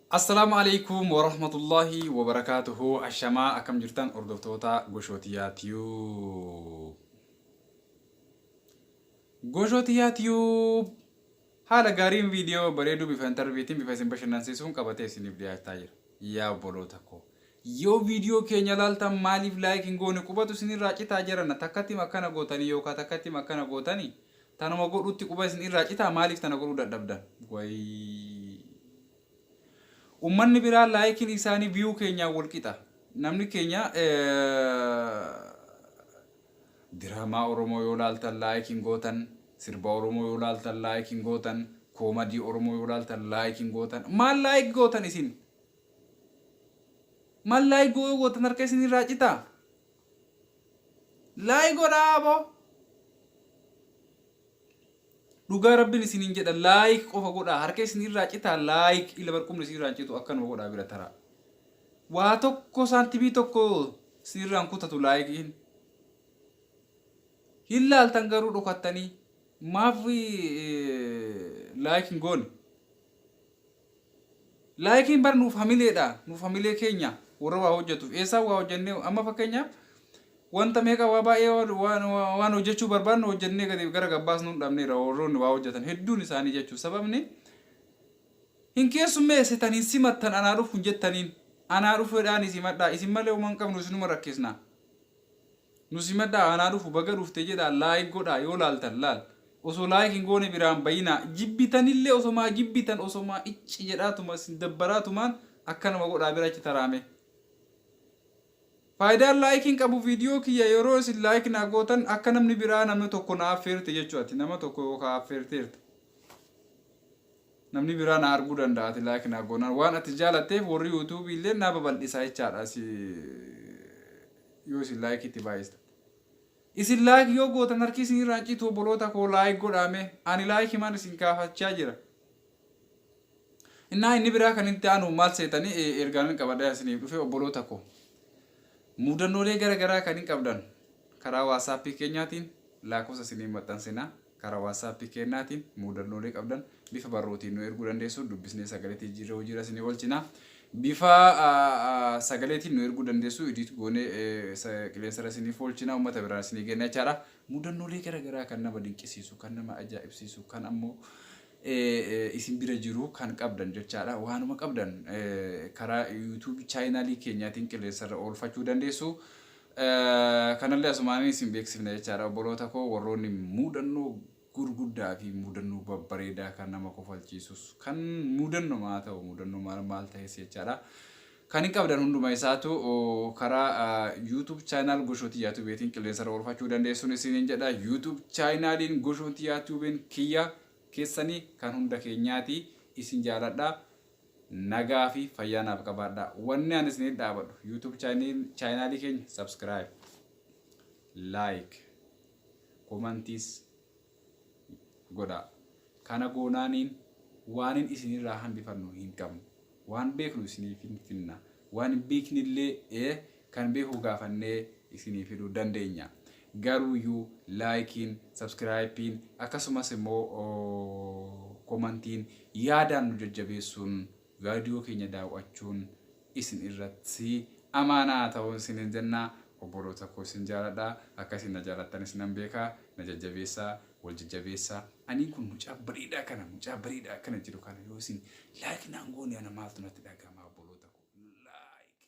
Assalaamu Aleeykum Warahmatullaahi Wabarakaatuhu Ashamaa akkam jirtan hordoftoota Goshootiyaa Tube Goshootiyaa Tube haala gaariin viidiyoo bareeduu bifa intarviitiin bifa isin bashannansiisuun qabatee isiniif dhiyaachaa jira yaa obboloota koo yoo viidiyoo keenya laaltan maaliif laayik hin goone qubatu isinirraa citaa jiranna takkattim akkana gootanii yookaan takkattim akkana gootanii Tanuma godhuutti quba isin irraa citaa maaliif tana godhuu dadhabdan wayii. Ummanni biraa laayikiin isaanii view keenyaan wal qixa. Namni keenya diraamaa Oromoo yoo laaltan like hin gootan, sirba Oromoo yoo laaltan like hin gootan, koomadii Oromoo yoo laaltan like hin gootan. Maal like gootan isin? Maal like yoo gootan harka isin irraa citaa? Like godhaa aboo. Dhugaa rabbin isinin jedha like qofa godhaa harka isin irraa citaa like ila bar qubni isin irraa hin citu akkanuma godhaa bira taraa. Waa tokko saantimii tokko isin irraa hin kutatu laayikiin. Hin laaltan garuu dhokattanii maaf laayik hin goone. Laayikiin bar nuuf hamileedha nuuf hamilee keenya warra waa hojjatuuf eessaa waa hojjannee amma fakkeenyaaf wanta meeqa waa baay'ee waan waan hojjachuu barbaadnu hojjannee gadi gara gabbaas nuun dhabneera warroonni waa hojjatan hedduun isaanii jechuu sababni hin keessummeessitan hin simattan anaa dhufu hin jettaniin anaa dhufedhaan isin madhaa isin malee homan qabnu isinuma rakkisna Nu simadhaa anaa dhufu baga dhufte jedhaa like godhaa yoo laaltan laal osoo like hin goone biraa hin bayinaa jibbitanillee osomaa jibbitan osomaa icci jedhaatuma isin dabbaraatumaan akkanuma godhaa bira achi taraamee Faayidaan like hin qabu video kiyya yeroo isin like naa gootan akka namni biraa namni tokko na affeerte jechuu ati nama tokko yookaa affeerteerta. Namni biraa na arguu danda'a ati like naa goonaan waan ati jaalatteef warri youtube illeen naa babal'isa jechaadha si yoo isin like itti baay'istan. Isin like yoo gootan harki isin irraa hin citu obboloota koo like godhaa mee ani like maan isin kaafachaa jira. Innaa inni biraa kan itti aanu maal seetanii e, ergaanan qabadhee isiniif dhufe obboloota koo. Mudannoolee gara garaa kan hin qabdan karaa whatsapp keenyaatiin laakofsa isiniif maxxansinaa. Karaa WhatsApp keennaatiin muudannoolee qabdan bifa barruutiin nu erguu dandeessu. Dubbisnee sagaleetti jijjiirree hojiirra isinii oolchina. Bifa sagaleetiin nu erguu dandeessu. Idiit goonee qilleensarra isiniif oolchina. Uummata biraan isinii geenna jechaadha. Muudannoolee garaagaraa kan nama dinqisiisu, kan nama ajaa'ibsiisu, kan ammoo isin bira jiru kan qabdan jechaadha. Waanuma qabdan karaa YouTube chaayinaalii keenyaatiin qilleensarra oolfachuu dandeessu. Kanallee asumaan isin beeksifna jechaadha obboloota koo warroonni muudannoo gurguddaa fi muudannoo babbareedaa kan nama kofalchiisus kan muudannoma haa ta'u muudannoo maal maal ta'es jechaadha. Kan hin qabdan hunduma isaatu karaa YouTube channel Goshooti Yaatubeetiin qilleensarra oolfachuu dandeessuun isiniin jedha. YouTube channelin Goshooti Yaatubeen kiyya keessanii kan hunda keenyaati isin jaaladha. Nagaa fi fayyaa naaf qabaadhaa. Wanni ani isiniif dhaabadhu YouTube chaayinaalii keenya subscribe, like, comments godhaa. Kana goonaaniin waanin isinirraa hambifannu hin qabnu. Waan beeknu isiniif hin finna. Waan hin beeknillee Kan beeku gaafannee isinii fiduu dandeenya. Garuuyyuu laayikiin, sabskiraayippiin akkasumas immoo komantiin yaadaan nu jajjabeessuun vaadiyoo keenya daaw'achuun isin irratti amaanaa haa ta'u isiniin jenna. Obboloota koo isin jaaladha. Akka isin na jaallattanis nan beeka. Na jajjabeessaa. Wal jajjabeessaa anii kun mucaa bareedaa kana mucaa bareedaa akkana jedhu kana yoo isin like naan goone ana maaltu natti dhaga'ama obboloota koo like like.